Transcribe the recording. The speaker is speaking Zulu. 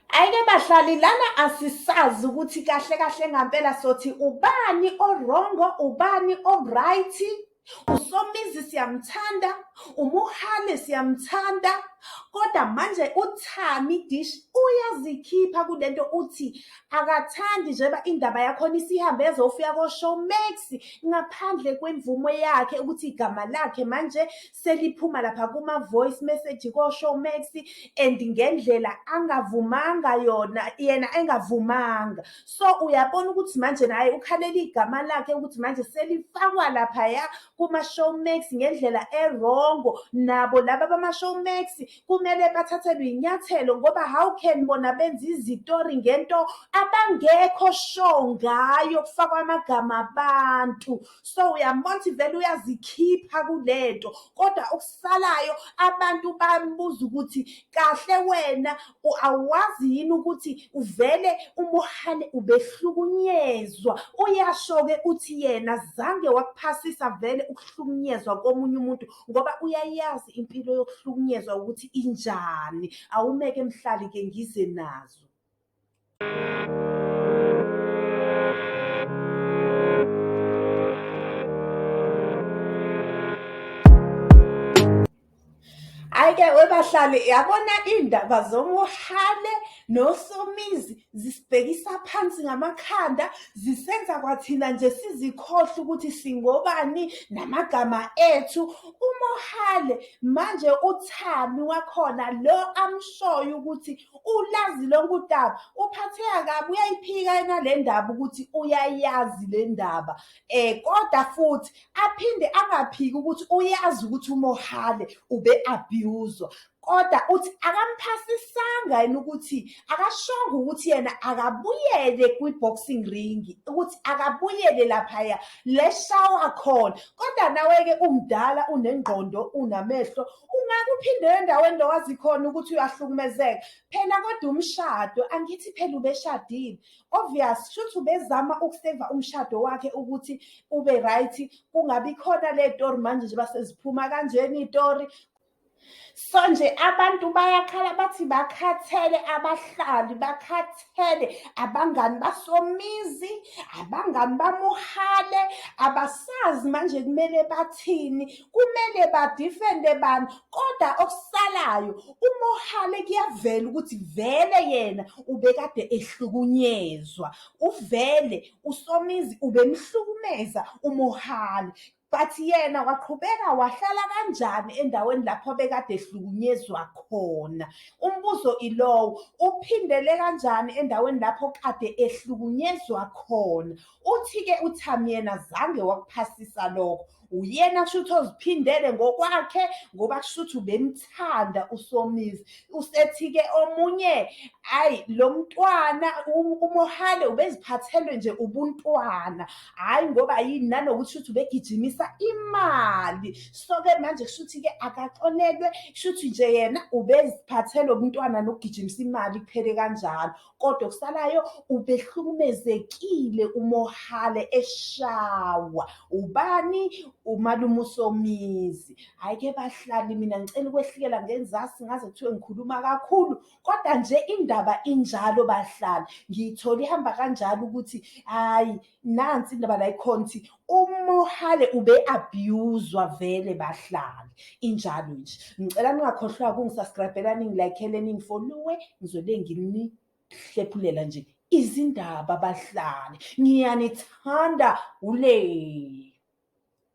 Ayike bahlali lana asisazi ukuthi kahle kahle ngampela sothi ubani orongo ubani o-right usomizi siyamthanda umuhale siyamthanda kodwa manje uthami dish uyazikhipha kule nto uthi akathandi njeba indaba yakhona isihambe ezofika koshowmax ngaphandle kwemvumo yakhe ukuthi igama lakhe manje seliphuma lapha kuma voice message ko Showmax and ngendlela angavumanga yona yena engavumanga so uyabona ukuthi manje naye ukhalela igama lakhe ukuthi manje selifakwa lapha ya kuma Showmax ngendlela erongo nabo laba bama Showmax kumele bathathelwe inyathelo ngoba how can bona benza izitori ngento abangekho show ngayo kufakwa amagama abantu so uyambona ukuthi vele uyazikhipha kulento kodwa okusalayo abantu bambuza ukuthi kahle wena awazi yini ukuthi uvele umuhane ubehlukunyezwa uyasho-ke uthi yena zange wakuphasisa vele ukuhlukunyezwa komunye umuntu ngoba uyayazi impilo yokuhlukunyezwa ukuthi injani awumeke mhlali-ke ngize nazo Ayike webahlali yabona indaba zomuhane nosomizi zisibhekisa phansi ngamakhanda zisenza kwathina nje sizikhohle ukuthi singobani namagama ethu umohale manje uthami wakhona lo amshoyo ukuthi ulazi lonke udaba uphatheka kabi uyayiphika yena le ndaba ukuthi uyayazi le ndaba um kodwa futhi aphinde angaphiki ukuthi uyazi ukuthi umohale ube-abhuzwa kodwa uthi akamphasisanga yena ukuthi akashonga ukuthi yena akabuyele kwi-boxing ring ukuthi akabuyele laphaya leshawa khona kodwa nawe-ke umdala unengqondo unamehlo ungake uphinde endaweni lo wazi khona ukuthi uyahlukumezeka phela kodwa umshado angithi phela ubeshadile obvious shuthi ubezama ukuseva umshado wakhe ukuthi ube right kungabi khona le tori manje nje baseziphuma kanjena itori so nje abantu bayakhala bathi bakhathele abahlali bakhathele kuphele abangani basomizi abangani bamuhale abasazi manje kumele bathini kumele badifende bani kodwa okusalayo umuhale kuyavela ukuthi vele yena ubekade ehlukunyezwa uvele usomizi ubemhlukumeza umuhale but yena waqhubeka wahlala kanjani endaweni lapho bekade ehlukunyezwa khona umbuzo ilowo uphindele kanjani endaweni lapho kade ehlukunyezwa khona uthi-ke uthami yena zange wakuphasisa lokho uyena kushuthi oziphindele ngokwakhe ngoba kushuthi ubemthanda usomizi usethi-ke omunye ayi lo mntwana umohale ubeziphathelwe nje ubuntwana hhayi ngoba yini nanokuthi shuthi ubegijimisa imali so-ke manje kusho ukuthi-ke akaxolelwe shuthi nje yena ubeziphathelwe ubuntwana nokugijimisa imali kuphele kanjalo kodwa okusalayo ubehlukumezekile umohale eshawa ubani umalume usomizi hhayi ke bahlali mina ngicela ukwehlikela ngenzasi ngaze kuthiwe ngikhuluma kakhulu kodwa nje indaba injalo bahlali ngiyithole ihamba kanjalo ukuthi hhayi nansi indaba la ikhona ukuthi umohale ube abuswa vele bahlali injalo nje ngicela ningakhohlwa kungisubscribela ningilayikhele ningifoluwe ngizobe nginihlephulela nje izindaba bahlali ngiyanithanda ule